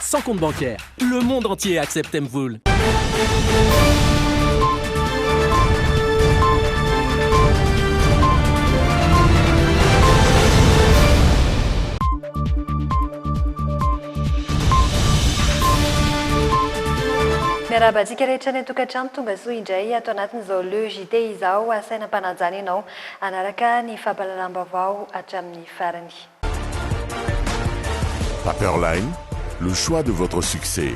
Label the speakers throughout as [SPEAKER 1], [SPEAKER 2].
[SPEAKER 1] Sans compte bancaire, le monde entier accepte Mvul.
[SPEAKER 2] Miarahaba antsika rehetra any an-tokantrano, tonga soa indray ato anatin'izao Le JT izao, asaina am-panajana ianao hanaraka ny fampahalalam-baovao hatramin'ny farany.
[SPEAKER 3] Paperline, le choix de votre succès.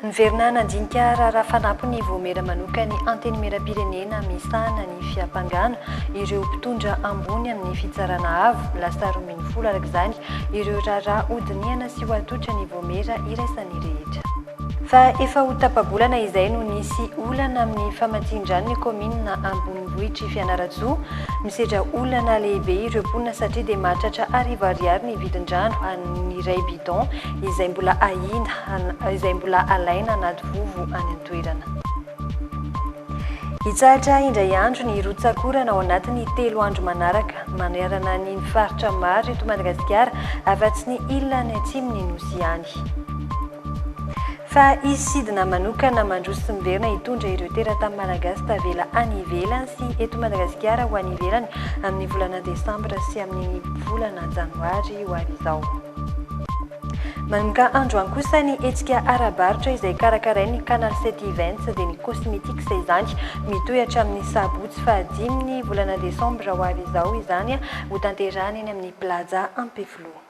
[SPEAKER 2] Niverina nandinika raharaha fanampiny Vohomera manoka ny Antenimierampirenena misahana ny fiampangana ireo mpitondra ambony amin'ny Fitsarana Avo, lasa roa ambin'ny folo araka izany ireo raharaha hodinihana sy ho atolotra ny Vohomera iraisan'ny rehetra. Fa efa ho tapa-bolana izay no nisy olana amin'ny famatsian-drano ny kaominina ambonivohitr'i Fianarantsoa. Misedra olana lehibe ireo mponina satria dia mahatratra arivo ariary ny vidin-drano an'ny iray bidon izay mbola ahiana, izay mbola alaina anaty vovo any an-toerana. Hitsahatra indray andro ny rotsak'orana ao anatin'ny telo andro manaraka, manerana ny faritra maro eto Madagasikara, afa-tsy ny ilany atsimon' ny Nosy ihany. Fa hisy sidina manokana mandroso sy miverina hitondra ireo teratany malagasy tavela any ivelany sy eto Madagasikara ho any ivelany amin'ny volana desambra sy amin'ny volana janoary ho avy izao. Manomboka androany kosa ny hetsika ara-barotra izay karakarain'ny Canal sept Events dia ny Cosmetics izany. Mitohy hatramin'ny sabotsy fahadimy ny volana desambra ho avy izao izany hotanterahana eny amin'ny Plaza Ampefiloha.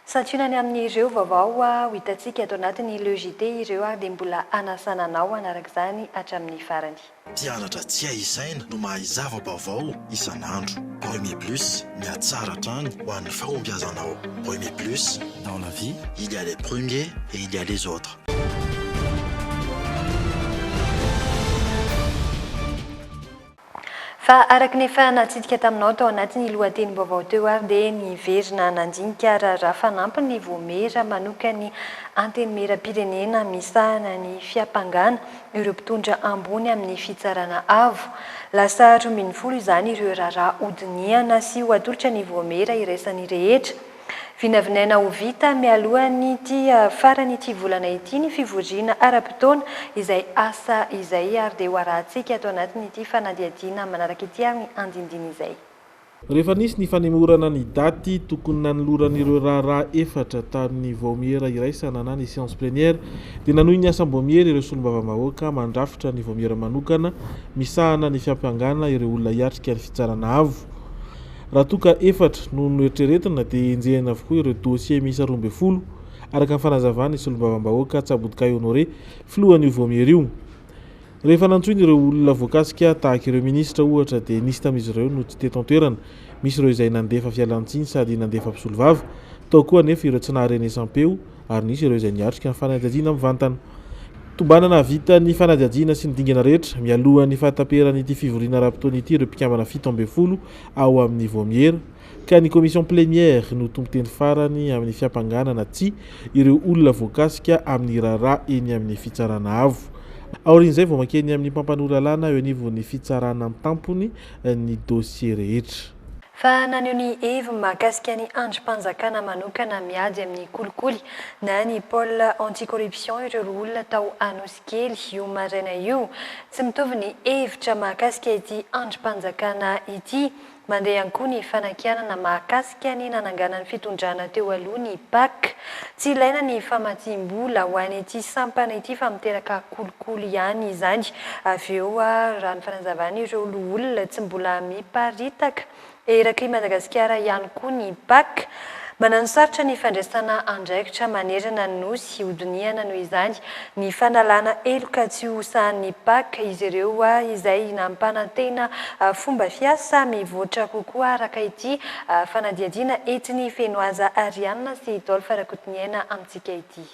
[SPEAKER 2] Santionany ny amin'ireo vaovao ho hitantsika ato anatin'ny Le JT ireo ary dia mbola hanasana anao hanaraka izany hatramin'ny farany. Mpianatra tsy
[SPEAKER 4] hay isaina no mahay zava-baovao isan'andro. Remy Plus, mihatsara hatrany ho an'ny fahombiazanao. Remy Plus, dans la vie, il y a les premiers et il y a les autres.
[SPEAKER 2] Fa araka ny efa natsidika taminao tao anatin'ny lohatenim-baovao teo ary dia niverina nandinika raharaha fanampiny ny Voamera manokan'ny Antenimierampirenena misahana ny fiampangana ireo mpitondra ambony amin'ny Fitsarana Avo. Lasa roa ambin'ny folo izany ireo raharaha hodinihana sy ho atolotra ny Voamera iraisan'ny rehetra. Vinavinaina ho vita mialohan'ity faran'ity volana ity ny fivoriana ara-potoana izay asa izay ary dia ho arahantsika ato anatin'ity fanadihadiana manaraka ity ary ny andindiny izay. Rehefa nisy
[SPEAKER 5] ny fanemorana ny daty tokony nanoloran'ireo raharaha efatra tamin'ny Vaomiera iraisana na ny Séance Plénière dia nanohy ny asam-boamiery ireo Solombavambahoaka mandrafitra ny Vaomiera manokana misahana ny fiampangana ireo olona hiatrika ny Fitsarana Avo Raha toa ka efatra no noeritreretina dia enjehina avokoa ireo dossiers miisa roa ambin'ny folo, araka ny fanazavan'ny Solombavambahoaka Tsabodikay Honoré, filohan'io Vaomiera io. Rehefa nantsoina ireo olona voakasika, tahaka ireo minisitra ohatra, dia nisy tamin'izy ireo no tsy teto an-toerana, misy ireo izay nandefa fialan-tsiny sady nandefa mpisolovava, tao koa anefa ireo tsy naha-renesampeo, ary nisy ireo izay niatrika ny fanadihadiana mivantana. Tombanana hahavita ny fanadihadiana sy ny dingana rehetra mialohan'ny fahataperan'ity fivoriana ara-potoana ity ireo mpikambana fito ambin'ny folo ao amin'ny Vaomiera ka ny commission plénière no tompon-teny farany amin'ny fiampangana na tsia ireo olona voakasika amin'ny raharaha eny amin'ny Fitsarana Avo. Aorian'izay vao mankeny amin'ny mpampanoa lalàna eo anivon'ny Fitsarana an-tampony ny dosie rehetra. Fa naneho ny
[SPEAKER 2] heviny mahakasika ny andrim-panjakana manokana miady amin'ny kolikoly na ny pôle anti-corruption ireo roa olona tao Anosikely, io maraina io. Tsy mitovy ny hevitra mahakasika ity andrim-panjakana ity. Mandeha ihany koa ny fanakianana mahakasika ny nananganan'ny fitondrana teo aloha ny Pac. Tsy ilaina ny famatsiam-bola ho an' ity sampana ity fa miteraka kolikoly ihany izany. Avy eo, raha ny fanazavan' ireo loholona, tsy mbola miparitaka eraky i Madagasikara ihany koa ny pac. Mananosarotra ny fandraisana andraikitra manerana ny Nosy hodinihana noho izany ny fanalana heloka tsy ho sahan'ny pac izy ireo, izay nampanantena fomba fiasa mivoatra kokoa araka ity fanadihadiana entin'i Fenoaza Arianna sy Dolph Rakotoniaina amintsika ity.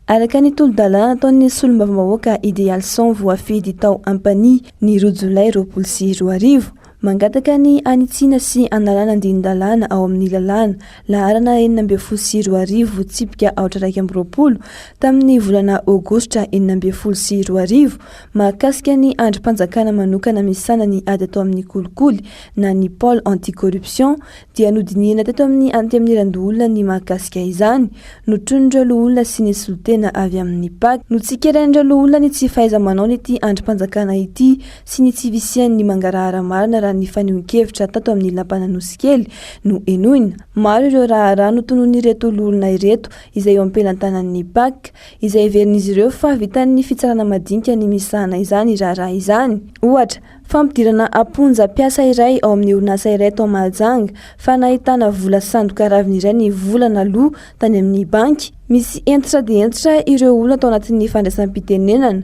[SPEAKER 2] Araka
[SPEAKER 6] ny tolo-dalàna nataon'ny solombavambahoaka Idealson voafidy tao Ampanihy ny roa jolay roapolo sy roa arivo, Mangataka ny hanitsiana sy hanalana andinin-dalàna ao amin'ny lalàna, laharana enina ambin'ny folo sy roa arivo, tsipika aotra iraika amby roapolo, tamin'ny volana Aogositra enina ambin'ny folo sy roa arivo, mahakasika ny andrim-panjakana manokana misahana ny ady atao amin'ny kolikoly na ny Pôle anti-corruption, dia nodinihina teto amin'ny Antenimierandoholona ny mahakasika izany, notronin'ireo loholona sy ny solontena avy amin'ny pac. Notsikerain'ireo loholona ny tsy fahaiza-manaon'ity andrim-panjakana ity sy ny tsy fisian'ny mangarahara marina raha ny fanehoan-kevitra tato amin'ny Lapan'Anosikely no henoina. Maro ireo raharaha notononin'ireto loholona ireto izay eo am-pelantanan'ny Pac, izay heverin'izy ireo fa vitan'ny fitsarana madinika ny misahana izany raharaha izany. Ohatra, fampidirana am-ponja mpiasa iray ao amin'ny orinasa iray tao Mahajanga fa nahitana vola sandoka raviny iray ny vola naloa tany amin'ny banky. Misy hentitra dia hentitra ireo olona tao anatin'ny fandraisam-pitenenana.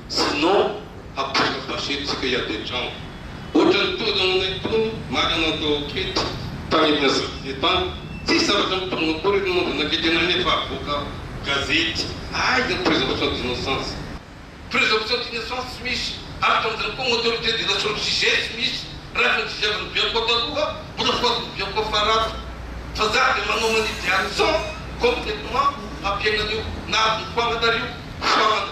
[SPEAKER 7] Sinon hapoaka basy tsika hiady an-trano. Ohatran'ny toa nahoana itony marina ny tao ankety tarihina sarive tany. Tsisy zavatra mitombo akory ery monja nakety anay nefa avoaka gazety. Aiza ny présomption d'innocence? Présomption d'innocence tsy misy. Araka an'izany koa ny autorité de la sur le sujet tsy misy. Raha efa notsidiavin'ny Bianco taloha mbola foadin'ny Bianco farafy. Fa za dia manao manidy harison complètement hampiaina an'io. Na adin'ny foagna na ry io foagna na.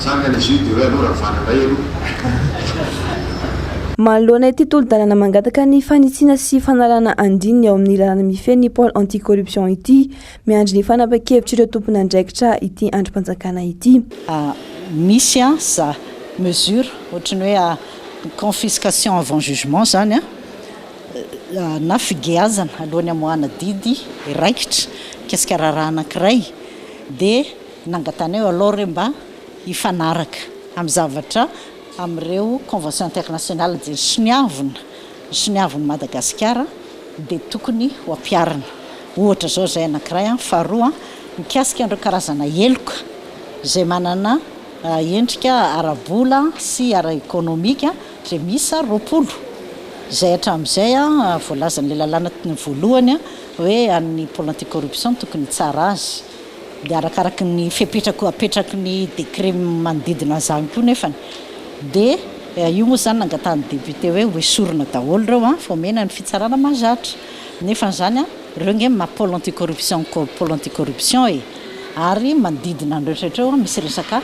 [SPEAKER 8] Zany any izy io de hoe alou ravana indray aloha.
[SPEAKER 6] Manoloana ity tolo-dalana mangataka ny fanitsiana sy fanalana andininy ao amin'ny lalàna mifehy ny Pôle anti-corruption ity, miandry ny fanapahan-kevitr'ireo tompon'andraikitra ity andrim-panjakana ity. Misy
[SPEAKER 9] an za mesure ohatran'ny hoe confiscation avant jugement zany an, na figeazana alohan'ny hamoahana didy raikitra mikasika raharaha anankiray dia. Nangatanay aloha re mba hifanaraka amin'ny zavatra amin'ireo convention internationale dia ny soniavina, ny soniavin'i Madagasikara dia tokony ho ampiharina. Ohatra izao izay anankiray an, faharoa mikasika an'ireo karazana heloka izay manana endrika ara-bola sy ara-ekonomika izay miisa roapolo izay hatramin'izay voalazan'ilay lalàna voalohany hoe an'ny pole anti-corruption no tokony hitsara azy. Dia arakaraky ny fepetra koa apetraky ny décret manodidina an'izany koa nefany dia io moa izany nangatahan'ny député hoe ho esorina daholo ireo an, fa omena ny fitsarana mahazatra nefany izany an, ireo ange maha pôle anti-corruption pôle anti-corruption e! ary manodidina an'ireo rehetra ireo an misy resaka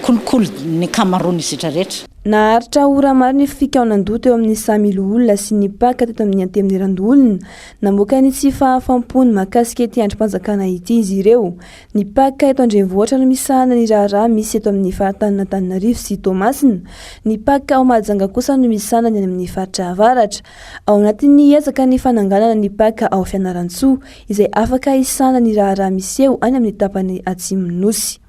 [SPEAKER 9] kolikoly ny ankamaroan'ny izitra rehetra.
[SPEAKER 6] Naharitra ora maro ny fikaonan-doha teo amin'ny samy loholona sy ny mpaka teto amin'ny Antenimierandoholona Namoaka ny tsy fahafam-pony mahakasika ity andrim-panjakana ity izy ireo. Ny mpaka eto an-drenivohitra no misahana ny raharaha misy eto amin'ny faritanin'Antananarivo sy Toamasina. Ny mpaka ao Mahajanga kosa no misahana ny any amin'ny faritra avaratra. Ao anatin'ny ezaka ny fananganana ny mpaka ao Fianarantsoa, izay afaka hisahana ny raharaha miseho any amin'ny tapany atsimon'ny Nosy.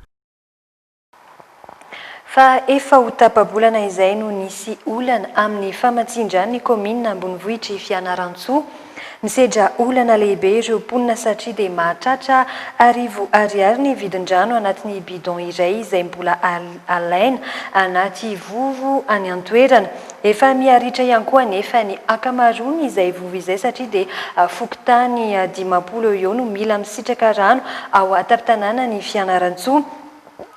[SPEAKER 2] Fa efa ho tapa-bolana izay no nisy olana amin'ny famatsian-dranon'ny kaominina ambonivohitr'i Fianarantsoa. Misedra olana lehibe ireo mponina satria dia mahatratra arivo ariary ny vidin-drano anatin'ny bidon iray izay mbola alaina anaty vovo any an-toerana. Efa miha-ritra ihany koa anefa ny ankamaroan'izay vovo izay satria dia fokontany dimampolo eo ho eo no mila misitraka rano ao an-tampon-tanànan'i Fianarantsoa.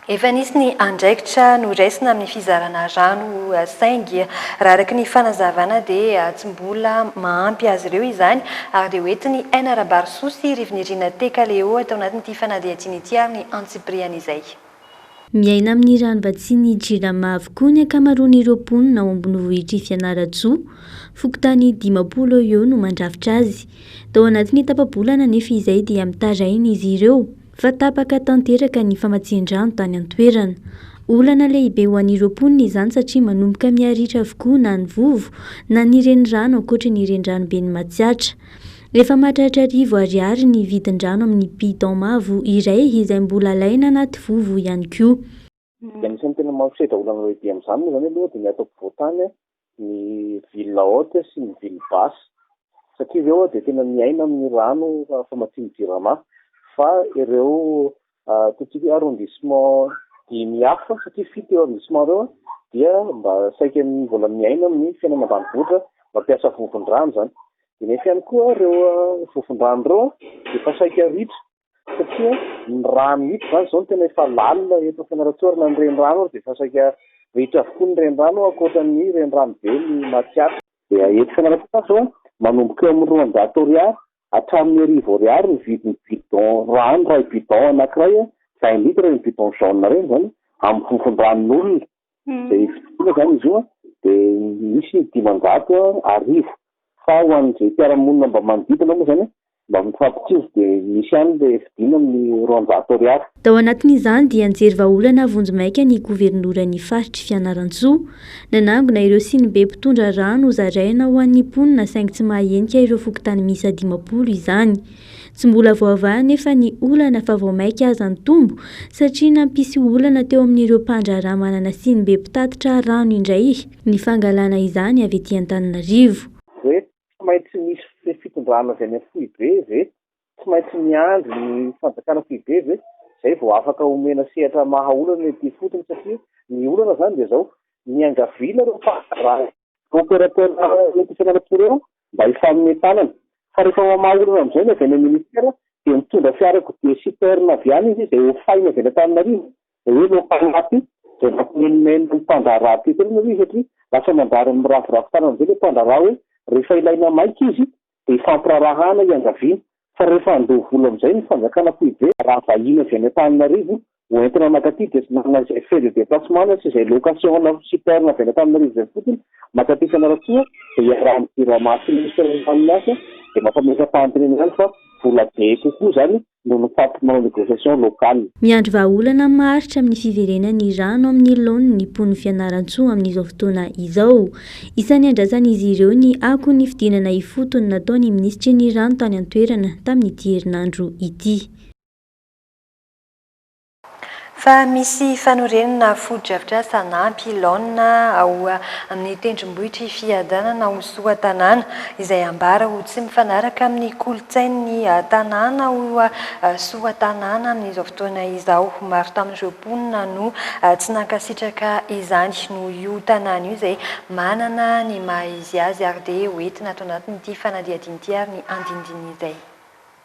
[SPEAKER 2] Efa nisy ny andraikitra noraisina amin'ny fizarana rano saingy raha araka ny fanazavana dia tsy mbola mahampy azy ireo izany ary dia hoentiny Aina Rabarisoa sy Rivinirina Tekaleo tao anatin'ity fanadihadiana ity ary ny antsipirihan'izay Miaina
[SPEAKER 10] amin'ny ranovatsian'ny Jirama avokoa ny ankamaroan'ireo mponina ao ambonivohitr'i Fianarantsoa. Fokontany dimampolo eo ho eo no mandrafitra azy. Tao anatin'ny tapa-bolana anefa izay dia mitaraina izy ireo. Fa tapaka tanteraka ny famatsian-drano tany an-toerana. Olana lehibe ho an'ireo mponina izany satria manomboka miha-ritra avokoa na ny vovo na ny renirano ankoatry ny reniranoben'i Matsiatra. Efa mahatratra arivo Ariary ny vidin-drano amin'ny bidon mavo iray izay mbola alaina anaty vovo ihany koa. Ny anisan'ny tena
[SPEAKER 11] mampisedra olana lehibe amin'izany moa izany aloha dia ny ato ampovoan-tany, ny ville haute sy ny ville basse, satria ireo dia tena miaina amin'ny rano famatsian'ny Jirama, fa ireo ataontsika hoe arrondissement dimy hafa, satria fito ireo arrondissement ireo, dia mba saika mbola miaina amin'ny fiainana ambanivohitra, mampiasa vovon-drano izany. Dia nefa ihany koa ireo vovon-drano ireo dia efa saika ritra. satria ny rano mihitsy izany izao no tena efa lalina eto Fianarantsoarana ny renirano ary dia efa saika ritra avokoa ny renirano ankoatra ny renirano be ny Matsiatra dia eto Fianarantsoarana izao manomboka eo amin'ny roanjato ariary hatramin'ny arivo ariary ny vidin'ny bidon rano iray bidon anankiray vingt litres ireny bidon jaune ireny izany amin'ny vovon-dranon'olona Hmm. Zay fitoriana zany izy io an, de misy dimanjato an, arivo. Fa ho an'izay mpiara-monina mba manodidina moa zany an, mba mifampitory de misy ihany le fidiana amin'ny roanjato ariary. Tao anatin'izany
[SPEAKER 10] dia nijery vahaolana vonjimaika ny governoran'ny faritr'i Fianarantsoa. Nanangona ireo sinibe mpitondra rano hozaraina ho an'ny mponina saingy tsy mahahenika ireo fokontany miisa dimampolo izany. Tsy mbola voavaha anefa ny olana fa vao mainka aza nitombo satria nampisy olana teo amin'ireo mpandraharaha manana siny be mpitatitra rano indray ny fangalana izany avy ety Antananarivo. Ve tsy
[SPEAKER 11] maintsy misy ny fitondrana avy any amin'ny foibe ve? Tsy maintsy miandry ny fanjakana foibe ve? Izay vao afaka omena sehatra maha olana ity ifotony satria ny olana izany dia izao, niangaviana ireo mpandraharaha, opérateur eto Fianarantsoa ireo mba hifanome tanana. Fa rehefa mamaha olana amin'izay ny avy any amin'ny ministera dia mitondra fiarakodia citerne avy any izy izay hofaina avy any Antananarivo, izay hoe ireo mpanampy izay nampimenomenona ny mpandraharaha teto ireny aloha izy satria lasa manjary miraviravy tanana amin'izay ilay mpandraharaha hoe rehefa ilaina maika izy dia ifampiraharahana hiangaviana. fa rehefa handoa vola amin'izay ny fanjakana foibe, raha vahiny avy any Antananarivo ho entina mankaty dia tsy manana izay frais de déplacement sy izay location na super avy any Antananarivo izay fotsiny mankaty Fianarantsoa dia iarahan'ny Jirama sy Ministre ny haniny azy dia mampametra-panontaniana ihany fa vola be kokoa izany noho ny faty manao négociation local. Miandry vahaolana
[SPEAKER 10] maharitra amin'ny fiverenan'ny rano amin'ny laoniny ny mponin'i Fianarantsoa amin'izao fotoana izao. Isan'ny andrasan'izy ireo ny ako ny fidinana ifotony nataon'ny minisitry ny rano tany an-toerana tamin'ity herinandro ity.
[SPEAKER 2] Fa misy fanorenana fotodrafitrasa anampy laonina ao amin'ny tendrombohitr'i Fiadanana ho Soatanàna, izay ambara ho tsy mifanaraka amin'ny kolontsain'ny tanàna ao Soatanàna amin'izao fotoana izao. Maro tamin'ireo. mponina no tsy nankasitraka izany noho io tanàna io izay manana ny maha izy azy ary dia ho entina ato anatin'ity fanadihadiana ity ary ny andinindininy izay.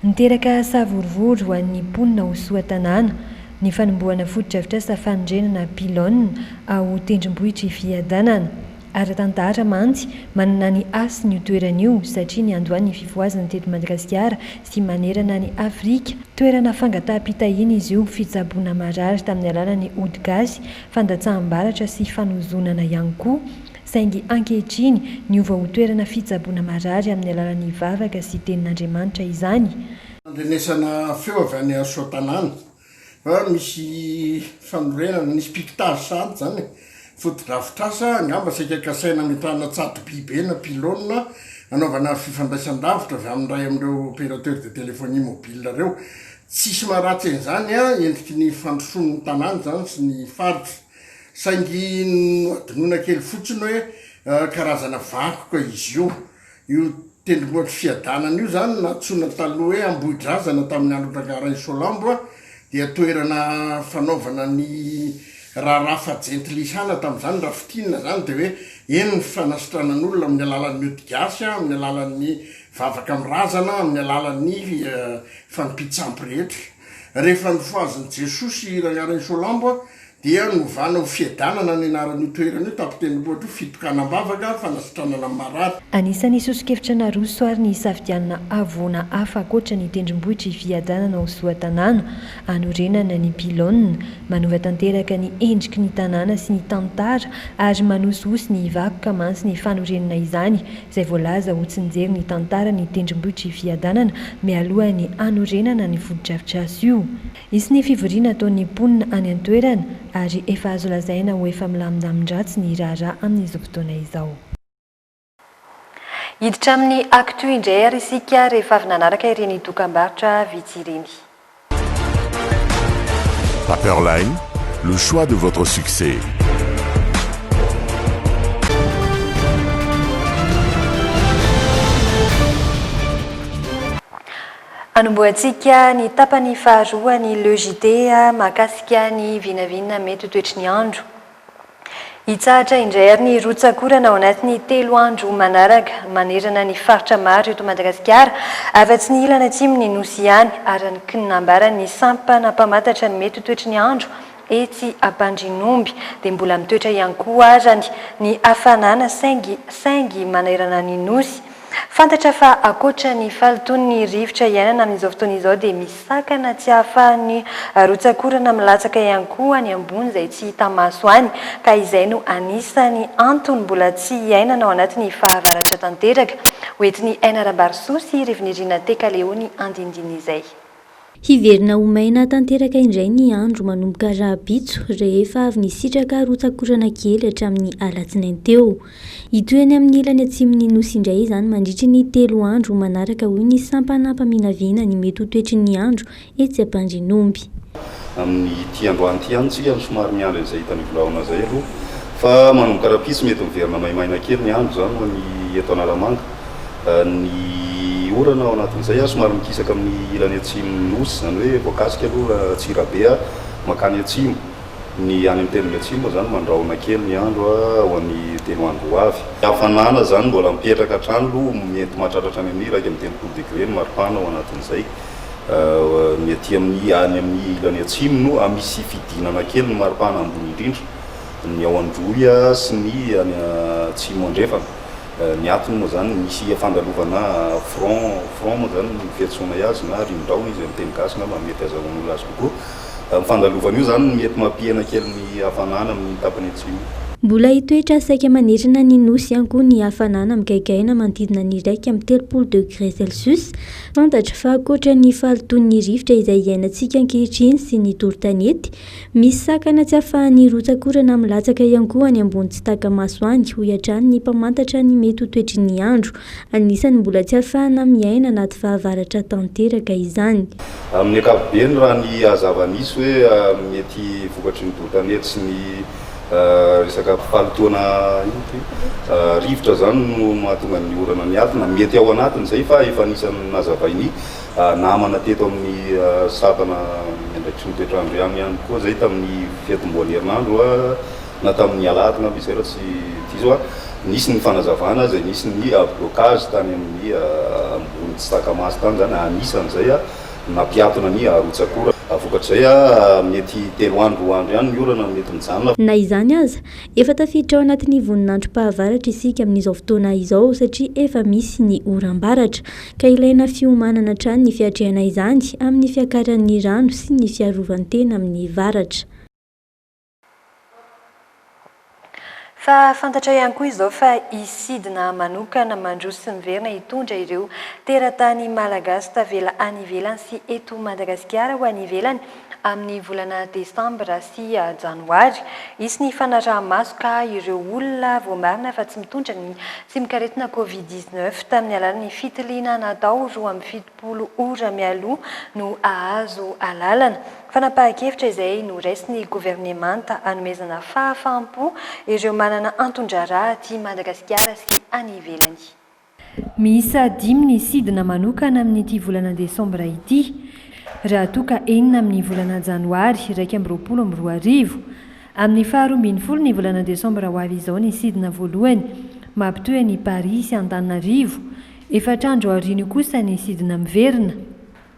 [SPEAKER 2] Niteraka
[SPEAKER 12] savorovoro ho an'ny mponina ao Soatanàna ny fanombohana fotodrafitrasa fanorenana pylone ao tendrombohitr'i Fiadanana. Ara-tantara mantsy, manana ny hasiny io toerana io satria niandoha ny fifohazana teto Madagasikara sy manerana an'i Afrika. Toerana fangataham-pitahiana izy io, fitsaboana marary tamin'ny alalan'ny ody gasy, fandatsaham-baratra sy fanozonana ihany koa. Saingy ankehitriny, niova ho toerana fitsaboana marary amin'ny alalan'ny vavaka sy tenin'Andriamanitra izany. Fandrenesana
[SPEAKER 13] feo avy any Soatanana, An, misy fanorenana, misy piquetage sahady izany e. Fotodrafitrasa, angamba saika kasaina hametrahana tsato-by be na pylônes hanaovana fifandraisan-davitra avy amin'ny iray amin'ireo opérateurs de téléphonie mobile ireo. Tsisy maharatsy an'izany an, endriky ny fandrosoan'ny tanàna izany sy ny faritra. Saingy nohadinoina kely fotsiny hoe karazana vankoka izy io. Io tendrombohitry Fiadanana io izany nantsoina taloha hoe Ambohidrazana tamin'ny andron'i Rangarainsolambo dia toerana fanaovana ny raharaha faha-jentilihana tamin'izany raha fintinina izany dia hoe eny ny fanasitranan'olona amin'ny alalan'ny odigasy, amin'ny alalan'ny vavaka amin'ny razana, amin'ny alalan'ny fanompian-tsampy rehetra. Rehefa nifohazin'i Jesoa sy Rangarainsolambo Dia novana ho Fiadanana ny anaran'io toerana io tamin'ny tenim-bohitra ho Fitokanam-bavaka, Fanasitranana ny marary. Anisan'ny sosokevitra
[SPEAKER 12] naroso ary ny hisafidianana havoana hafa ankoatra ny tendrombohitra i Fiadanana ho zoan-tanàna hanorenana ny pylônes, manova tanteraka ny endriky ny tanàna sy ny tantara ary manosihosy ny vakoka mantsy ny fanorenana izany izay voalaza ho tsy nijery ny tantaran'ny tendrombohitr'i Fiadanana mialohan'ny hanorenana ny fotodrafitrasa io. Hisy ny fivoriana ataon'ny mponina any an-toerana ary efa azo lazaina ho efa milamindamin-dratsy ny raharaha amin'izao fotoana izao.
[SPEAKER 2] Hiditra amin'ny Actu indray ary isika rehefa avy nanaraka ireny dokam-barotra vitsy ireny.
[SPEAKER 3] Paperline, le choix de votre succès.
[SPEAKER 2] Anombohantsika ny tapany faharoa ny Le JT mahakasika ny vinavina mety ho toetry ny andro. Hitsahatra indray àry ny rotsak'orana ao anatin'ny telo andro manaraka manerana ny faritra maro eto Madagasikara, afa-tsy ny ilany atsimon'ny Nosy ihany, araka ny nambaran'ny sampana mpamantatra ny mety ho toetry ny andro Etsy Ambandrinomby dia mbola mitoetra ihany koa azany ny hafanana saingy saingy manerana ny Nosy. Fantatra fa ankoatra ny fahalotoan' ny rivotra iainana amin' izao fotoana izao dia misy sakana tsy ahafahan' ny rotsak'orana milatsaka ihany koa any ambony izay tsy hita maso any ka izay no anisan' ny antony mbola tsy iainana ao anatin' ny fahavaratra tanteraka ho entin' i Ainarambarisoa sy Rivinirina Tekaleony andindin' izay. Hiverina
[SPEAKER 10] ho maina tanteraka indray ny andro manomboka rahampitso rehefa avy nisitraka rotsakorana kely hatramin'ny alatsinainy teo. Hitohy any amin'ny ilany atsimon'ny Nosy indray izany mandritry ny telo andro manaraka hoy ny sampana mpaminavina ny mety ho toetry ny andro etsy Ampandrinomby. Amin'ity
[SPEAKER 14] androany ity ihany tsika no somary miandry an'izay hitan'i Volahaona izay aloha fa manomboka rahampitso mety miverina maimaina kely ny andro izany ho an'i eto Analamanga. Ny orana ao anatin'izay somary mikisaka amin'ny ilany atsimon'ny Nosy, izany hoe voakasika aloha Antsirabe mankany atsimo. Ny any amin'ny teniny atsimo moa izany mandrahona kely ny andro ho an'ny telo andro ho avy. Ny hafanana izany mbola mipetraka hatrany aloha, mety mahatratra hatrany amin'ny iraika amby telopolo degre ny maripana ao anatin'izay. Ny aty amin'ny, any amin'ny ilany atsimo no misy fidinana kely ny maripana ambony indrindra, ny ao Androy sy ny any atsimo andrefana. Ny atony moa zany misy fandalovana front, front moa zany no fiantsoanay azy na rindrao izy amin'ny teny gasy angamba mety azahoan'olona azy kokoa. Ny fandalovana io zany mety mampihena kely ny hafanana amin'ny tapany atsimo. Mbola hitoetra
[SPEAKER 10] saika manerana ny Nosy ihany koa ny hafanana migaingaina manodidina ny iraika amby telopolo degré celsius. Fantatra fa ankoatra ny fahalotoan'ny rivotra izay iainantsika ankehitriny sy ny doro tanety, Misy sakana tsy afahan'ny hirotsakorana milatsaka ihany koa any ambony tsy taka-maso any, hoy hatrany ny mpamantatra ny mety ho toetry ny andro. Anisan'ny mbola tsy afahana miaina anaty fahavaratra tanteraka izany. Amin'ny ankapobeny,
[SPEAKER 14] raha ny zava-misy hoe mety vokatry ny doro-tanety sy ny resaka fahalotoana rivotra izany no mahatonga ny orana miadina, mety ao anatin'izay fa efa anisan'ny nazavain'i Namana teto amin'ny sampana ny andraikitry ny toetr'andro ihany ihany koa izay tamin'ny fiantombohan'ny herinandro na tamin'ny alahady angamba izay raha tsy diso aho. Nisy ny fanazavana izay nisy ny blocage tany amin'ny ambony tsy taka-maso tany izany, anisan'izay nampiatona ny arotsakora. Vokatr'izay, mety telo andro roa andro ihany ny orana no mety mijanona. Na izany aza,
[SPEAKER 10] efa tafiditra ao anatin'ny voninandrom-pahavaratra isika amin'izao fotoana izao satria efa misy ny oram-baratra. ka ilaina fiomanana hatrany ny fiatrehana izany amin'ny fiakaran'ny rano sy ny fiarovan-tena amin'ny varatra.
[SPEAKER 2] Fa fantatra ihany koa izao fa hisidina manokana mandroso sy miverina hitondra ireo teratany malagasy tavela any ivelany sy eto Madagasikara ho any ivelany, Amin'ny volana desambra sy janoary, hisy ny fanaraha-maso ka ireo olona voamarina fa tsy mitondra ny tsimok'aretina Covid dix-neuf tamin'ny alalan'ny fitiliana natao roa amby fitopolo ora mialoha no hahazo alalana. Fanapahan-kevitra izay noraisin'ny governemanta hanomezana fahafaham-po ireo manana anton-draharaha aty Madagasikara sy any ivelany. Miisa
[SPEAKER 12] dimy ny sidina manokana amin'ity volana desambra ity. Raha toa ka enina amin'ny volana janoary iraika amby roapolo amby roa arivo. Amin'ny faharoa ambin'ny folo ny volana desambra ho avy izao ny sidina voalohany mampitohy an'i Paris sy Antananarivo. Efatra andro aorian'io kosa ny sidina miverina.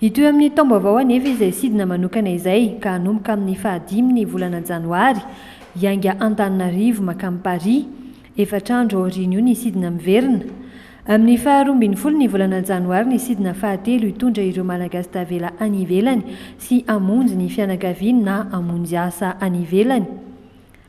[SPEAKER 12] Hitohy amin'ny taom-baovao anefa izay sidina manokana izay ka hanomboka amin'ny fahadimin'ny volana janoary, hiainga Antananarivo mankany Paris. Efatra andro aorian'io ny sidina miverina. Amin'ny faha roa ambin'ny folo ny volana janoary ny sidina fahatelo hitondra ireo Malagasy tavela any ivelany sy hamonjy ny fianakaviany na hamonjy asa any ivelany.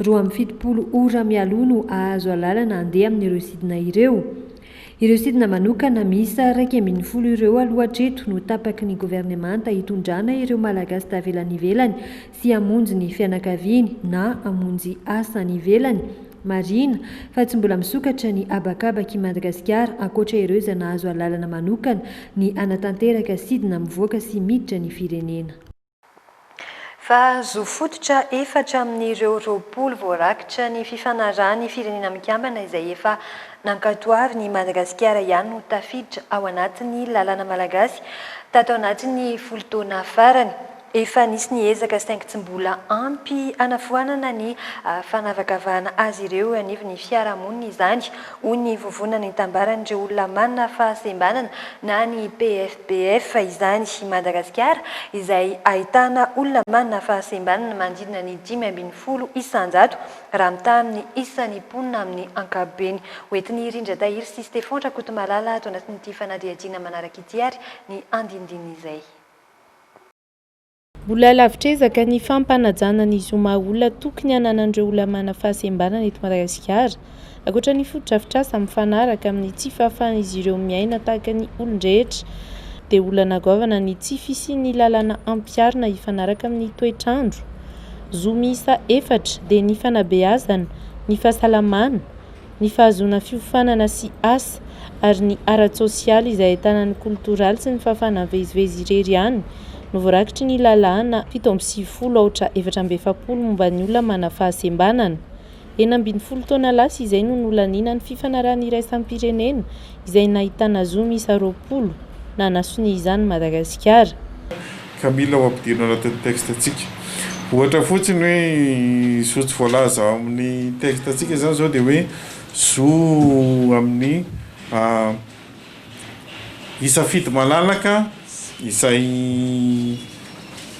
[SPEAKER 12] Roa amby fitopolo ora mialoha no hahazo alalana handeha amin'ireo sidina ireo. Ireo sidina manokana miisa iraika ambin'ny folo ireo aloha hatreto no tapaky ny governemanta hitondrana ireo Malagasy tavela any ivelany sy hamonjy ny fianakaviany na hamonjy asa any ivelany. Marihina fa tsy mbola misokatra ny habakabak' i Madagasikara ankoatra ireo izay nahazo alalana manokana ny hanatanteraka sidina mivoaka sy miditra ny firenena.
[SPEAKER 2] fa zo fototra efatra amin'ireo roapolo voarakitra ny Fifanarahan'ny Firenena Mikambana izay efa nankatoavin'i Madagasikara ihany no tafiditra ao anatin'ny lalàna malagasy tato anatin'ny folo taona farany. Efa nisy ny ezaka saingy tsy mbola ampy hanafoanana ny fanavakavahana azy ireo eo anivon'ny fiarahamonina izany, hoy ny vovonana itambaran'ireo olona manana fahasembanana na ny PFP. BF izany i Madagasikara izay ahitana olona manana fahasembanana manodidina ny dimy ambin'ny folo isan-jato raha mitaha amin'ny isan'ny mponina amin'ny ankapobeny. Hoentin'i I Rindra Tahiry sy Stefan Rakotomalala ato anatin'ity fanadihadiana manaraka ity ary ny andinindininy izay.
[SPEAKER 15] Mbola lavitr'ezaka ny fampanajana ny zo maha-olona tokony hananan'ireo olona manana fahasembanana eto Madagasikara, ankoatra ny fotodrafitrasa mifanaraka amin'ny tsy fahafahan'izy ireo miaina tahaka ny olon-drehetra, dia olana goavana ny tsy fisian'ny lalàna ampiharina hifanaraka amin'ny toetr'andro. Zo miisa efatra dia ny fanabeazana, ny fahasalamana, ny fahazoana fiofanana sy asa, ary ny ara-tsosialy izay ahitana ny kolotoraly sy ny fahafahana mivezivezy irery ihany no voarakitry ny lalàna fito amby sivifolo aotra efatra amby efapolo momba ny olona manana fahasembanana. Enina ambin'ny folo taona lasa izay no nolaniana ny fifanarahan'ny iraisam-pirenena izay nahitana zo miisa roapolo nanasonia izany Madagasikara. ka
[SPEAKER 5] mila ho ampidirina ao anatin'ny texte-ntsika. Ohatra fotsiny hoe zo tsy voalaza ao amin'ny texte-ntsika izany izao dia hoe zo amin'ny hisafidy malalaka izay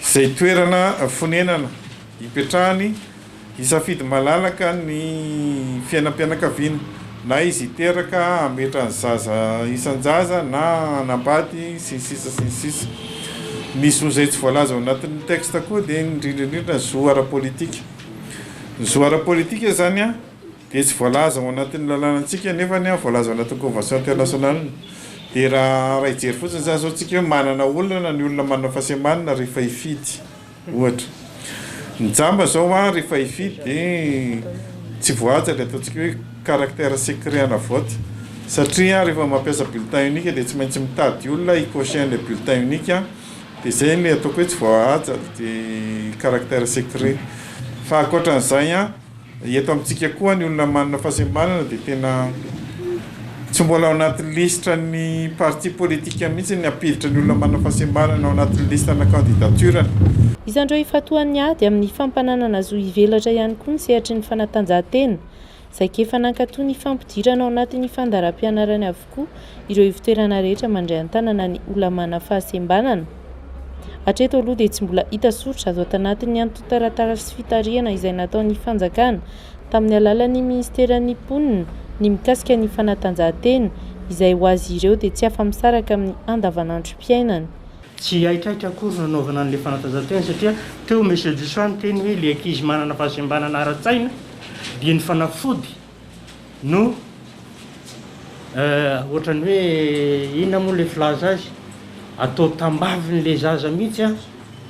[SPEAKER 5] izay toerana fonenana hipetrahany, Hisafidy malalaka ny fiainam-pianakaviana, na izy hiteraka, hametra ny zaza isan-jaza na hanambady, sy ny sisa sy ny sisa. Ny zo izay tsy voalaza ao anatin'ny texte koa dia indrindra indrindra ny zo ara-politika. Ny zo ara-politika izany dia
[SPEAKER 16] tsy voalaza ao anatin'ny lalànantsika nefa voalaza ao anatin'ny convention international. Dia raha hijery fotsiny izany izao isika hoe manana olana ny olona manana fahasembanana rehefa hifidy. Ohatra, ny jamba zao an rehefa hifidy de tsy voahaja le ataontsika hoe caractère secret ana vote satria rehefa mampiasa bulletin unique de tsy maintsy mitady olona hi-cocher le bulletin unique an de zay le ataoko hoe tsy voahaja de caractère secret fa ankoatran'izay an Eto amintsika koa ny olona manana fahasembanana dia tena tsy mbola ao anatin'ny lisitra ny parti politika mihitsy ny hampiditra ny olona manana fahasembanana ao anatin'ny listana candidature-ny. Isan'ireo
[SPEAKER 15] ifantohan'ny ady amin'ny fampananana zo hivelatra ihany koa ny sehatry ny fanatanjahantena, saika efa nankato ny fampidirana ao anatin'ny fandaharam-pianarana avokoa ireo ivon-toerana rehetra mandray an-tanana ny Olamàna fahasembanana. Hatreto aloha dia tsy mbola hita soritra azo atanatin'ny antontan-taratasy fitarihana izay nataon'ny fanjakana tamin'ny alalan'ny minisiteran'ny mponina ny mikasika ny fanatanjahantena izay ho azy ireo dia tsy afa-misaraka amin'ny andavanandrom-piainany. Tsy
[SPEAKER 17] haikaiky akory ny hanaovana an'ilay fanatanjahantena satria teo Monsieur Disoa niteny hoe ilay ankizy manana fahasembanana ara-tsaina dia ny fanafody no eh, ohatrany hoe inona moa ilay filaza azy, atao tambavin'ilay zaza mihitsy an,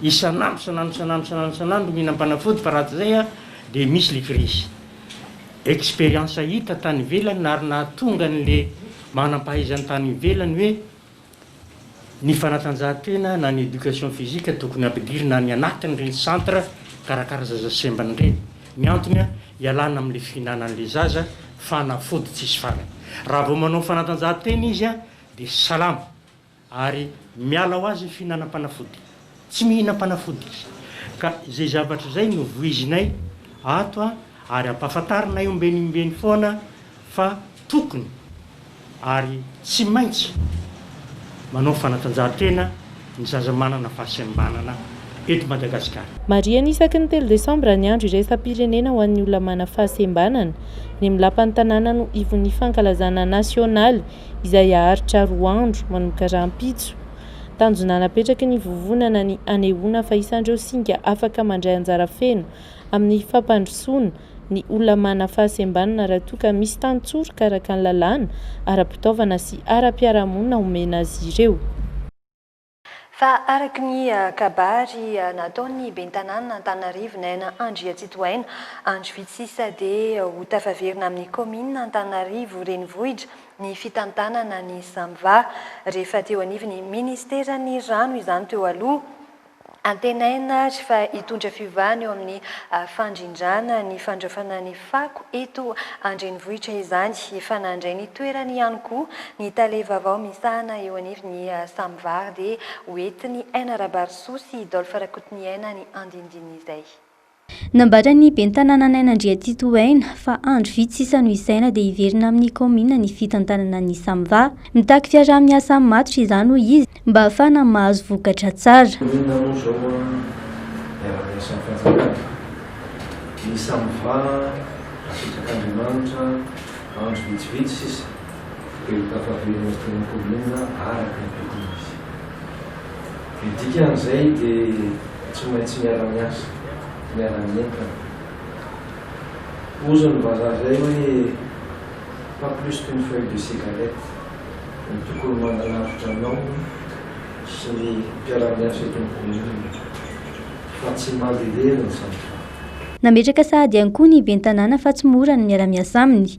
[SPEAKER 17] isan'andro isan'andro isan'andro isan'andro isan'andro mihinam-panafody fa raha tsy izay an, dia misy ilay virus. Expérience hita tany ivelany ary nahatonga an'ilay manam-pahaizana tany ivelany hoe Ny fanatanjahantena na ny education physique tokony ampidirina any anatin'ireny centre mikarakara zaza sembana ireny. Ny antony, hialana amin'ilay fihinanan'ilay zaza fanafody tsisy farany. Raha vao manao fanatanjahantena izy dia salama ary miala ho azy ny fihinanam-panafody. Tsy mihinam-panafody izy. Ka izay zavatra izay no voizinay ato a, ary ampahafantarinay ombenimbeny foana fa tokony ary tsy maintsy manao fanatanjahantena ny zaza manana fahasembanana eto Madagasikara. Marihina isaky ny
[SPEAKER 15] telo desambra ny andro iraisam-pirenena ho an'ny olona manana fahasembanana. Ny amin'ny lapan'ny tanàna no ivon'ny fankalazana nasionaly izay haharitra roa andro, manomboka rahampitso. Tanjona napetraky ny vovonana ny hanehoana fa isan'ireo singa afaka mandray anjara feno amin'ny fampandrosoana ny olona manana fahasembanana raha toa ka misy tantsoroka araka ny lalàna, ara-pitaovana sy ara-piarahamonina omena azy ireo.
[SPEAKER 2] Fa araka ny kabary nataon'ny ben'ny tanànan'Antananarivo Naina Andriatsitohaina, andro vitsy sisa dia ho tafaverina amin'ny kaominina Antananarivo Renivohitra ny fitantanana ny Samva rehefa teo anivon'ny Ministeran'ny Rano izany teo aloha. Antenaina ary fa hitondra fiovana eo amin'ny fandrindrana ny fandraofana ny fako eto an-drenivohitra izany. Efa nandray ny toerany ihany koa ny tale vaovao misahana eo anivon'ny Samva ary dia hoentin'i Aina Rabarisoa sy Dolph Rakotoniaina ny andinindin'izay. Nambara
[SPEAKER 10] ny ben'ny tanàna Naina Andriatito ho aina fa andro vitsy sisa no hisaina dia hiverina amin'ny kaominina ny fitantanana ny Samva. Mitaky fiaraha-miasa matotra izany hoy izy mba hahafahana mahazo vokatra tsara. Inona moa izao hiara-miasan'ny fanjakana, ny Samva, apetraka
[SPEAKER 18] Andriamanitra, andro vitsivitsy sisa. Dia ho tafaverina sy tena kominina araka ny tokony izy. Ny dikan'izay dia tsy maintsy miara-miasa, miara-mientana. Hozy ny vazaha izay hoe pas plus qu'une feuille de cigarette no tokony mananarotra anao sy ny mpiara-miasa eto amin'ny kominina fa tsy mandeha lery ny zavatra. Nametraka
[SPEAKER 10] sahady ihany koa ny Ben'ny tanàna fa tsy mora ny miara-miasa aminy.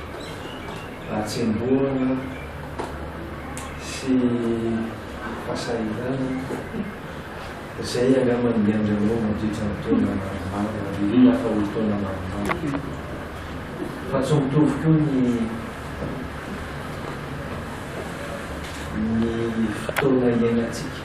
[SPEAKER 18] hatsembohana sy fahasahiranana izay angamba niainganao mandritra ny taona maromaro ary hila fa ho taona maromaro. Fa tsy mitovy koa ny ny fotoana iainantsika.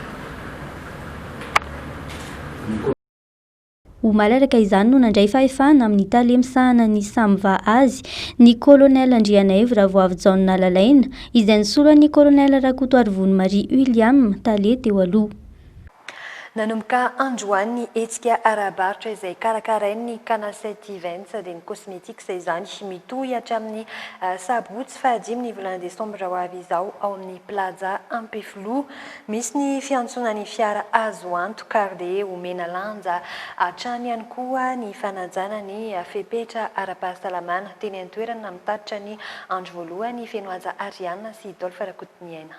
[SPEAKER 10] Ho malalaka izany no nandray fahefana amin'ny tale misahana ny SAMVA azy ny Kolonely Andrianaivo Ravoavijaona Lalaina, izay nisolo an'i Kolonely Rakotoarivony Marie William, tale teo aloha.
[SPEAKER 2] Nanomboka androany ny hetsika ara-barotra izay karakarain'ny Canacet Events dia ny Cosmetics izany. Mitohy hatramin'ny sabotsy fahadimy ny volana desambra ho avy izao ao amin'ny Plaza Ampefiloha. Misy ny fiantsoana ny fiara azo antoka ary dia omena lanja hatrany ihany koa ny fanajana ny fepetra ara-pahasalamana. Teny an-toerana namitatitra ny andro voalohany feno haja Ariane sy Dolph Rakotoniaina.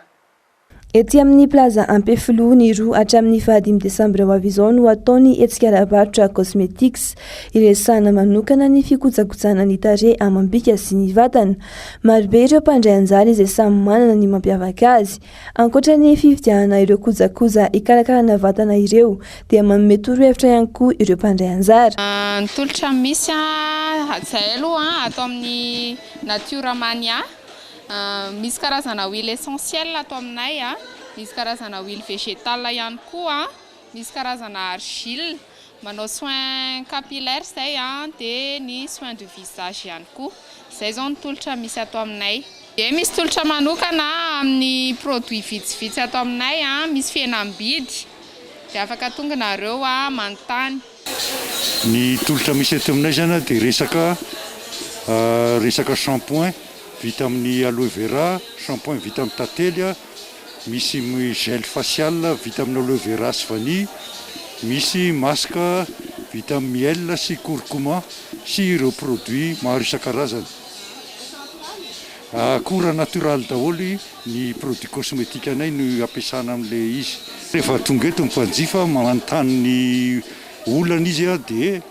[SPEAKER 2] Etsy
[SPEAKER 6] amin'ny Plaza Ampefiloha, ny roa hatramin'ny fahadimy desambra ho avy izao no hatao ny hetsika ara-barotra Cosmetics, iresahana manokana ny fikojakojana ny tarehy amam-bika sy ny vatana. Marobe ireo mpandray anjara izay samy manana ny mampiavaka azy. Ankoatra ny fividianana ireo kojakoja hikarakarana vatana ireo dia manome torohevitra ihany koa ireo mpandray anjara. Ny tolotra
[SPEAKER 19] misy hajahay aloha ato amin'ny Natura Mania, misy karazana huile essentielle ato aminay, misy karazana huile végétale ihany koa. Misy karazana argile, manao soins capillaires izay an, dia ny soins de visage ihany koa. Izay izao ny tolotra misy ato aminay. Dia misy tolotra manokana amin'ny produits vitsivitsy ato aminay, misy fihenam-bidy dia afaka tonga nareo manontany.
[SPEAKER 20] Ny tolotra misy aty aminay zany dia resaka resaka shampoing vita amin'ny aloe vera, shampoing vita amin'ny tantely, misy gel facial vita amin'ny aloe vera sy vanille, misy masque vita amin'ny miel sy curcuma sy ireo produits maro isan-karazany. Akora natoraly daholo ny produit cosmetique anay no ampiasana amin'le izy. Rehefa tonga eto ny mpanjifa manontany ny olana izy dia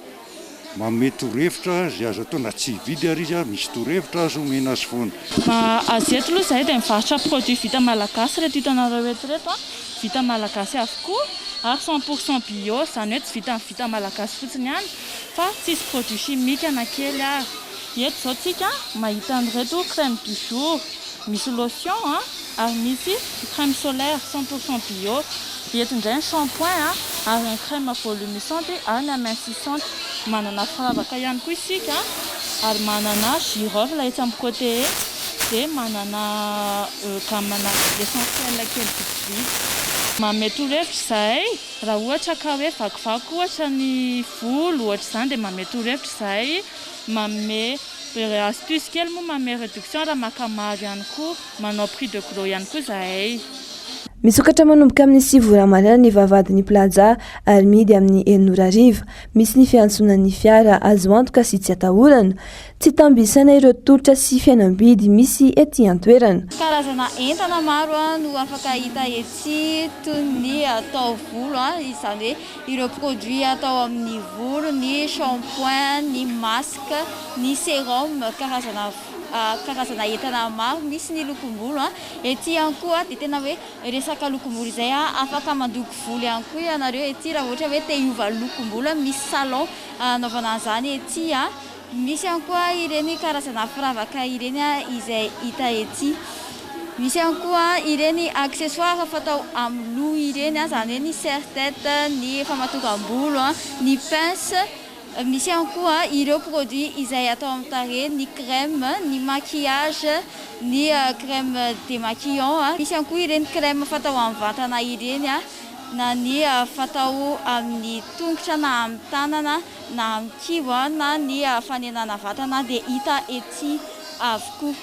[SPEAKER 20] manome torohevitra izay azo atao na tsy hividy ary izy misy torohevitra azo omena azy foana. Fa azy eto
[SPEAKER 21] aloha izahay dia mivarotra produit vita malagasy ireto hitanareo eto ireto vita malagasy avokoa ary cent pour cent bio izany hoe tsy vitan'ny vita malagasy fotsiny ihany fa tsisy produit chimique na kely ary. Eto izao tsika mahita an'ireto crème du jour, misy lotion a, ary misy crème solaire cent pour cent bio. Eto indray ny shampoing a, ary ny crème volumisante ary ny amincissante. Manana firavaka ihany koa isika ary manana girofle etsy amin'ny côté etsy dia manana gamme-na essentiel kely vitsivitsy. Manome torohevitra izahay raha ohatra ka hoe vakivaky ohatra ny volo ohatr'izany dia manome torohevitra izahay manome astuce kely moa manome reduction raha maka maro ihany koa manao prix de gros ihany koa zahay. Misokatra
[SPEAKER 6] manomboka amin'ny sivy ora maraina ny vavahadin'ny Plaza ary mihidy amin'ny enina ora hariva. Misy ny fiantsonan'ny fiara, azo antoka sy tsy atahorana. Tsy tambo isaina ireo tolotra sy fihenam-bidy misy ety an-toerana. Karazana entana
[SPEAKER 22] maro no afaka hita etsy toy ny taovolo, izany hoe. Ireo produits atao amin' ny volo, ny shampoing, ny masque, ny serum, karazana karazana entana maro misy ny lokom-bolo. Ety ihany koa dia tena hoe resaka lokom-bolo izay afaka mandoko volo ihany koa ianareo ety raha ohatra hoe te hiova lokom-bolo, misy salon hanaovana an'izany ety. Misy ihany koa ireny karazana firavaka ireny izay hita ety. Misy ihany koa ireny accessoires fatao amin'ny loha ireny, izany hoe ny serre-tête, ny famatokam-bolo, ny pince. Misy ihany koa ireo produits izay atao amin'ny tarehy, ny crème, ny maquillage, ny crème démaquillant. Misy ihany koa ireny crème fatao amin'ny vatana ireny na ny fatao amin'ny tongotra na amin'ny tanana. na amin'ny kibo na ny fanenana vatana dia hita etsy avokoa.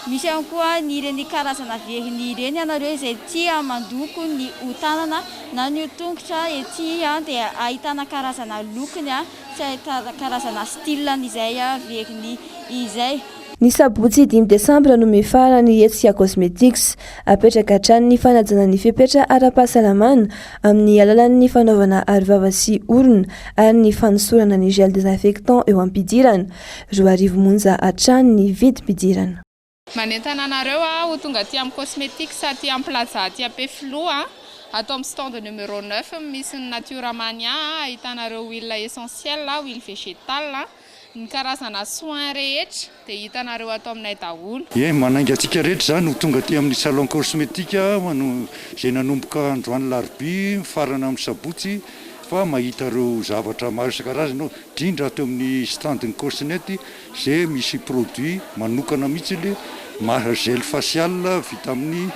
[SPEAKER 22] Misy ihany koa ny ireny karazana veriny ireny ianareo izay tia mandoko ny ho tanana na ny ho tongotra etsy dia ahitana karazana lokony sy ahitana karazana style ny izay veriny izay. Ny sabotsy
[SPEAKER 6] dimy desambra no mifaha-ra ny hetsika Cosmetics. Apetraka hatrany ny fanajana ny fepetra ara-pahasalamana amin'ny alalan'ny fanaovana arovava sy orona ary ny fanosorana ny gel désinfectant eo am-pidirana. Roa arivo monja hatrany ny vidim-pidirana. Manentana
[SPEAKER 19] anareo aho ho tonga aty amin'ny Cosmetics aty amin'ny Plaza aty Ampefiloha, ato amin'ny stand numéro neuf misy ny Natura Mania ahitanareo huile essentielle, huile végétale. Ny karazana soins rehetra dia hitanareo ato aminay daholo. Eny, manainga antsika rehetra
[SPEAKER 20] izany ho tonga aty amin'ny Salon Cosmetique izay nanomboka androany larobia mifarana amin'ny sabotsy fa mahita ireo zavatra maro isan-karazany ao, indrindra ato amin'ny stand-n'ny Cosnet izay misy produits manokana mihitsy, maha gel facial vita amin'ny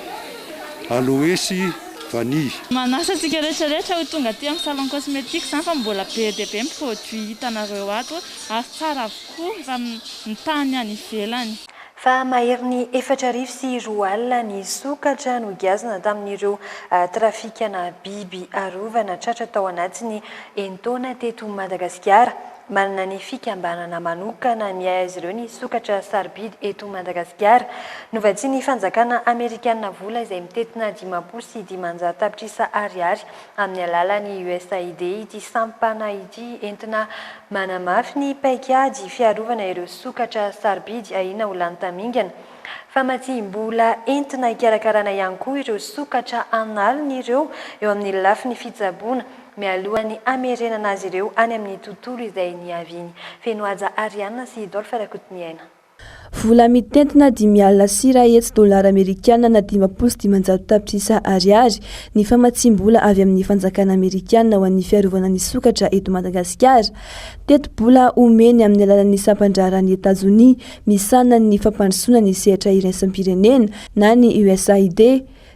[SPEAKER 20] aloe sy. vanille. Manasa antsika
[SPEAKER 21] rehetra rehetra ho tonga aty amin'ny salon cosmétique izany fa mbola be dia be ny produits hitanareo ato ary tsara avokoa efa mitaha ny any ivelany. Fa maherin'ny
[SPEAKER 2] efatra arivo sy roa alina ny sokatra nogiazana tamin'ireo trafikana biby arovana tratra tao anatin'ny enin-taona teto Madagasikara. Manana ny fikambanana manokana ny azy ireo ny sokatra sarobidy eto Madagasikara. Novatsian'ny fanjakana amerikanina vola izay mitentina dimampolo sy dimanjato tapitrisa ariary amin'ny alalan'ny USAID ity sampana ity entina manamafy ny paikady fiarovana ireo sokatra sarobidy ahiana ho lany tamingana. Famatsiam-bola entina hikarakarana ihany koa ireo sokatra an'aliny ireo eo amin'ny lafiny fitsaboana, mialoha ny hamerenana azy ireo any amin'ny tontolo izay niaviany. Feno haja Ariane sy Dolph Rakotoniaina. Vola
[SPEAKER 6] mitentina dimy alina sy iray hetsy dolara amerikana na dimampolo sy dimanjato tapitrisa ariary ny famatsiam-bola avy amin'ny fanjakana amerikana ho an'ny fiarovana ny sokatra eto Madagasikara. Tetibola omeny amin'ny alalan'ny sampan-draharan'i Etazonia misahana ny fampandrosoana ny sehatra iraisam-pirenena na ny USAID,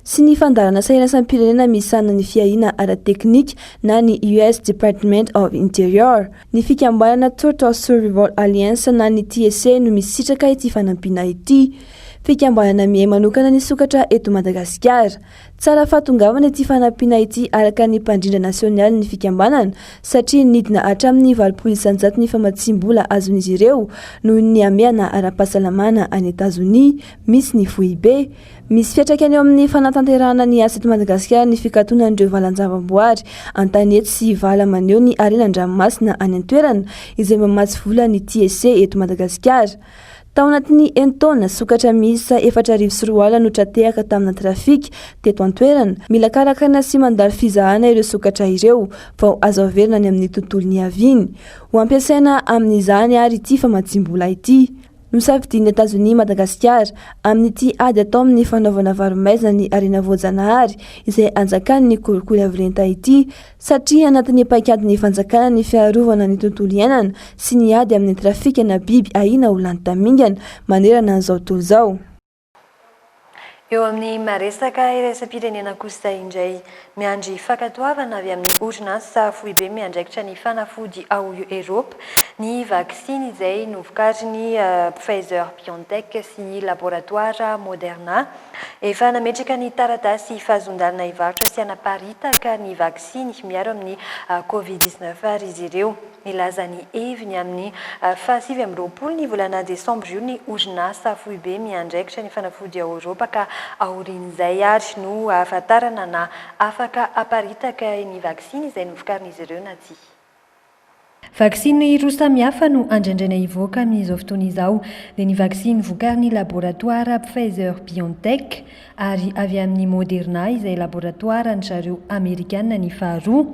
[SPEAKER 6] sy ny fandaharan'asa iraisam-pirenena misahana ny fiahiana ara-teknika na ny US Department of Interior. Ny fikambanana Total Survival Alliance na ny TSA no misitraka ity fanampiana ity. Fikambanana miahy manokana ny sokatra eto Madagasikara. Tsara fahatongavana ity fanampiana ity araka ny mpandrindra nasionialin'ny fikambanana satria nidina hatramin'ny valopolo isanjato ny famatsiam-bola azon'izy ireo noho ny hamehana ara-pahasalamana any Etazonia misy ny foibe Misy fiantraikany eo amin'ny fanatanterahana ny asa eto Madagasikara ny fikatonan'ireo valan-javamboary an-tanety sy vala maneho ny harena an-dranomasina any an-toerana izay mamatsy vola ny TEC eto Madagasikara. Tao anatin'ny enin-taona, sokatra miisa efatra arivo sy roa alina no tra-tehaka tamina trafika teto an-toerana. Mila karakaraina sy mandalo fizahana ireo sokatra ireo vao azo averina any amin'ny tontolo niaviany. Ho ampiasaina amin'izany àry ity famatsiam-bola ity. Nosafidian'i Etazonia Madagasikara amin'ity ady atao amin'ny fanaovana varo-maizina ny harena voajanahary izay anjakan'ny kolikoly avy lenta ity satria anatin'ny paikadin'ny fanjakana ny fiarovana ny tontolo iainana sy ny ady amin'ny trafikana biby ahiana ho lany tamingana manerana an'izao tontolo izao. Eo amin'ny maha resaka iraisam-pirenena kosa indray, miandry fankatoavana avy amin'ny orinasa foibe miandraikitra ny fanafody ao Eropa ny vaksiny izay novokarin'i Pfizer-BioNTech sy ny laboratoara Moderna. Efa nametraka ny taratasy fahazoan-dalana hivarotra sy hanaparitaka ny vaksiny miaro amin'ny Covid dix-neuf ary izy ireo. Nilaza ny heviny amin'ny fahasivy amby roapolo ny volana desambra io ny orinasa foibe miandraikitra ny fanafody ao Eoropa ka aorian'izay ary no hahafantarana na afaka haparitaka ny vaksiny izay novokarin'izy ireo na tsia. Vaksiny roa samihafa no andraindraina hivoaka amin'izao fotoana izao, dia ny vaksiny vokarin'ny laboratoara Pfizer-BioNTech, ary avy amin'ny Moderna izay laboratoaran-dry zareo Amerikana ny faharoa.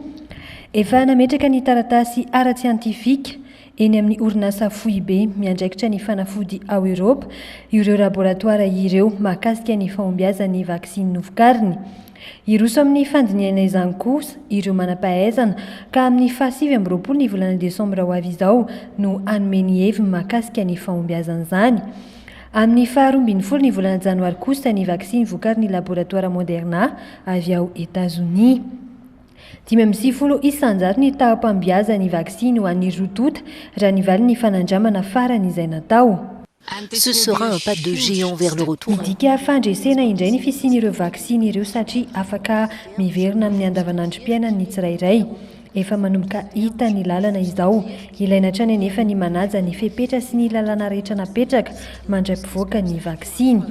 [SPEAKER 6] Efa nametraka ny taratasy ara-tsiantifika eny amin'ny orinasa foibe miandraikitra ny fanafody ao Eoropa ireo laboratoara ireo mahakasika ny fahombiazan'ny vaksiny novokariny. Hiroso amin'ny fandinihana izany kosa ireo manam-pahaizana ka amin'ny faha sivy amby roapolo ny volana desambra ho avy izao no hanome ny heviny mahakasika ny fahombiazan'izany. Amin'ny faha roa ambin'ny folo ny volana janoary kosa ny vaksiny vokarin'ny laboratoara Moderna avy ao Etazonia. Dimy amby sivifolo isanjato ny taham-pahombiazan'ny vaksiny ho an'ny roa tonta raha ny valin'ny fanandramana farany izay natao. Ce
[SPEAKER 23] sera un pas de géant vers le retour. Midika fandresena
[SPEAKER 2] indray ny fisian'ireo vaksiny ireo satria afaka miverina amin'ny andavanandrom-piainan'ny tsirairay. Efa manomboka hita ny lalana izao. Ilaina hatrany anefa ny manaja ny fepetra sy ny lalàna rehetra napetraka mandray mpivoaka ny vaksiny.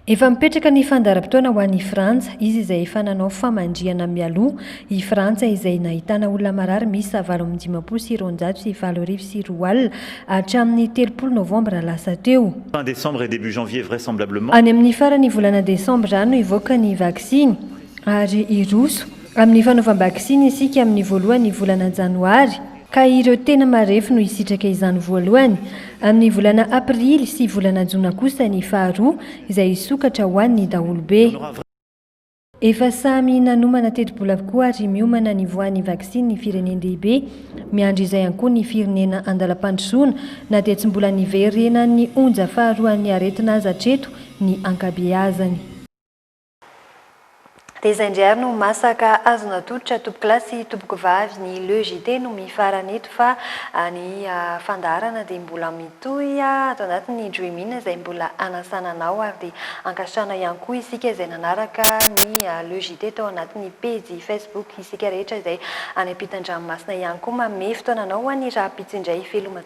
[SPEAKER 23] Efa mipetraka ny
[SPEAKER 2] fandaharam-potoana ho an'i Frantsa, izy izay efa nanao famandrihana mialoha. I Frantsa izay nahitana olona marary miisa valo amby dimampolo sy roanjato sy valo arivo sy roa alina hatramin'ny telopolo novambra lasa teo. Any
[SPEAKER 24] amin'ny faran'ny
[SPEAKER 2] volana desambra no hivoaka ny vaksiny. ary hiroso amin'ny fanaovam-baksiny isika amin'ny voalohan'ny volana janoary ka ireo tena marefo no hisitraka izany voalohany, amin'ny volana aprily sy volana jona kosa ny faharoa izay hisokatra ho an'ny daholobe. Efa
[SPEAKER 12] samy nanomana tetibola avokoa ary miomana ny voan'ny vaksiny ny firenen-dehibe, miandry izay ihany koa ny firenena an-dalam-pandrosoana na dia tsy mbola niverenan'ny onja faharoan'ny aretina aza hatreto ny ankabeazany.
[SPEAKER 2] Dia izay indray ary no masaka azo natolotra tompokolahy sy tompokovavy ny Le JT no mifarana eto fa ny fandaharana dia mbola mitohy ato anatin'ny Dream-in izay mbola hanasana anao ary dia hankasitrahana ihany koa isika izay nanaraka ny Le JT tao anatin'ny pejy Facebook isika rehetra izay any am-pitan-dranomasina ihany koa manome fotoana anao ho an'ny rahampitso indray veloma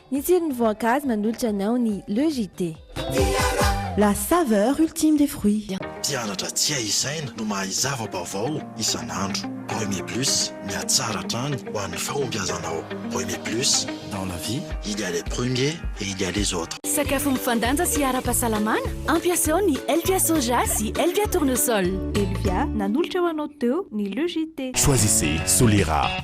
[SPEAKER 7] Ny tsiron'ny voankazo manolotra anao ny Le JT. La saveur ultime des fruits. Mpianatra tsy hay
[SPEAKER 8] isaina no mahay zava-baovao isan'andro. Remy Plus, mihatsara hatrany ho an'ny fahombiazanao. Remy Plus, dans la vie, il y a les premiers et il y a les autres. Sakafo mifandanja
[SPEAKER 7] sy ara-pahasalamana? Ampiasao ny Elvia Soja sy Elvia Tournesol. Elvia, nanolotra ho anao teo ny Le JT. Choisissez Solera.